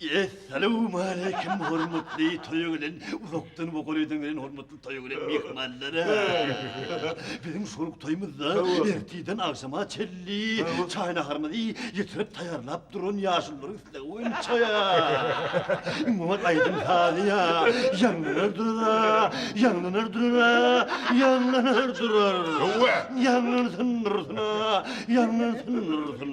Essalawmaleýkim hormatly toýa gelen, uzakdan we golaýdan gelen hormatly toýa gelen myhmanlara! Biziň şol toýumyzda ertirden agşama çenli çaý-naharymyzy ýetirip taýýarlap duran ýaşulularyň islegi boýunça Iňmam aýdym-sazy ýaňlanar durar, ýaňlanar durar, ýaňlanar durar. Ýaňlansyn dursun-a, ýaňlansyn dursun.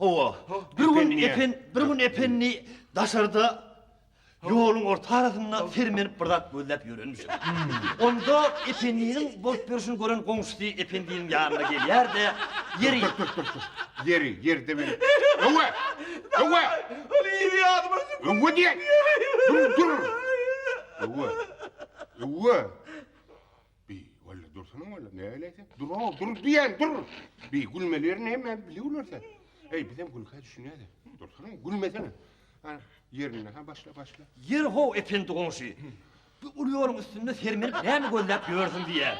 Hawa, bir gün Epen, bir gün Ependi daşarda ýoluň ortarasynda sermenip bir zat gözläp ýörenmiş. Onda Ependiniň bolup ýörşüni gören goňşusy Ependiniň ýanyna gelýär-de, Ýeri, Ýeri, ýerde men. Öwe! Öwe! Ol ýeri ýadyma düşüp. Öwe diýen! Dur, dur! Öwe! Öwe! Bi, walla dursana walla, näleýin sen? Dur-ow, dur diýýän, dur! Bi, gülmeli ýerini hemmämiz biliwler sen. Eý, bizem gülkä düşünýäs-ä. Dursana, gülmesene. Hany, ýerinde, ha, başla, başla. Ýeri-how, Ependi goňşy, bu uly ýoluň üstünde sermenip näme gözläp ýörsüň diýýär.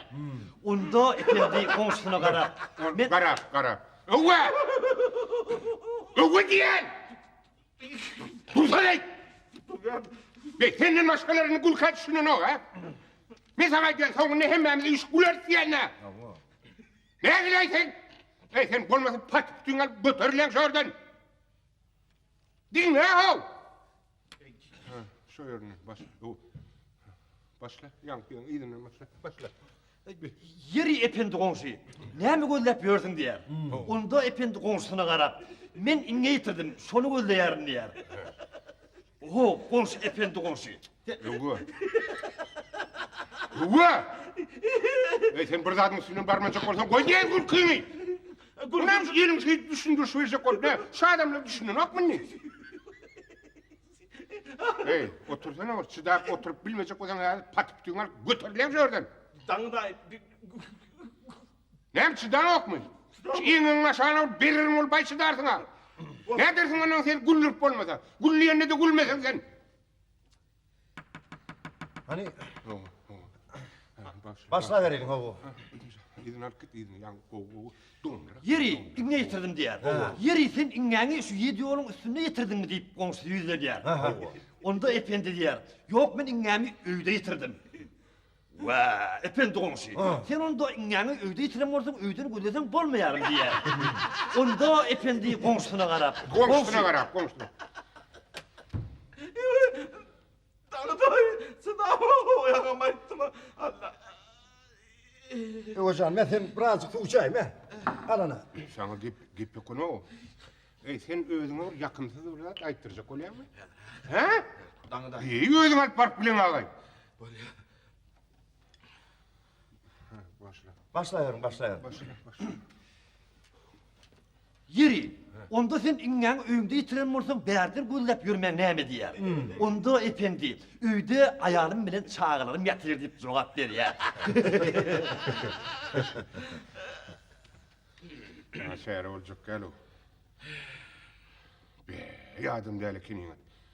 Onda Ependi goňşusyna garap, Men. Garap, garap. Öwwe! Öwwe diýýän! Gülkaýt! Be, senden başgalaryny Gülkaýt düşünenok, ha? Men sana aýdýan, soňunda hemmämiz üýşüp güleris diýýän-dä. Nägile sen? Eý, sen bolmasa patyk üstüňe alyp göterilen şu ýerden. Diňle how! Şu ýerine baş. Başla, ýaňkyň yzyndan başla. Başla. Ýeri, Ependi goňşy, näme gözläp ýörsüň? diýýär. Onda Ependi goňşusyna garap, Men iňňe ýitirdim, şony gözleýärin diýýär. Oho, goňşy, Ependi goňşy. Höwwa. Höwwa! Eý, sen bir zadyň üstünden barmanjak bolsaň, goý diýeýin gülkiňi. Munam iliň şeýdip düşündirişip berjek bolup, nä, şu adamlar düşünenokmy indi? Heý, otursana bir çydap oturyp bilmejek bolsaň häzir patypytygyňy alyp göterilen şu ýerden. Daňdaý. Näme çydaňokmy? Şu iňňiňiň aşagyna bir bererin ol baý çydarsyň-a. Nädersiň ondan seni güldürip bolmasa. Gülleýände-de gülmeseň sen. Hany. Hawa, hawa. Başlabereliň, hawa. Yzyny alyp git, yzyny. Ýa gowy, gowy. Ýeri, iňňe ýetirdim diýýär. Ýeri, sen iňňäňi şu ýedi ýoluň üstünde ýetirdiňmi? diýip, goňşusy ýüzlenýär. Onda Ependi diýýär, Ýok, men iňňämi öýde ýetirdim. Wä, Ependi goňşy, sen onda iňňäňi öýde ýetiren bolsaň, öýden gözleseň bolmaýarmy? diýýär. Onda Ependi goňşusyna garap. Goňşusyna garap, goňşusyna. Dagataý, çydap oýagam aýtdyma. Allaý. Öwez jan, men seni birazjyk suw içäýim, e. Al ana. Saňa gep, gep ýokun-ow. Eý, sen özüňe bir ýakymsyz bir zat aýtdyrjak bolýaňmy? Hä? Dagataý. Eý, özüň alyp baryp bileň agaý. Bolýar. Başla. Başlaýaryn, başlaýaryn. Başla, başla. Ýeri, onda sen iňňäň öýüňde ýitiren bolsaň, bärden gözläp ýörmäň näme diýýär. Hmm. Onda ependi, öýde aýalym bilen çagalarym ýatyr diýip jogap berýär. Ýa şäre boljak gäl o. Be, ýadym däl ekeniň.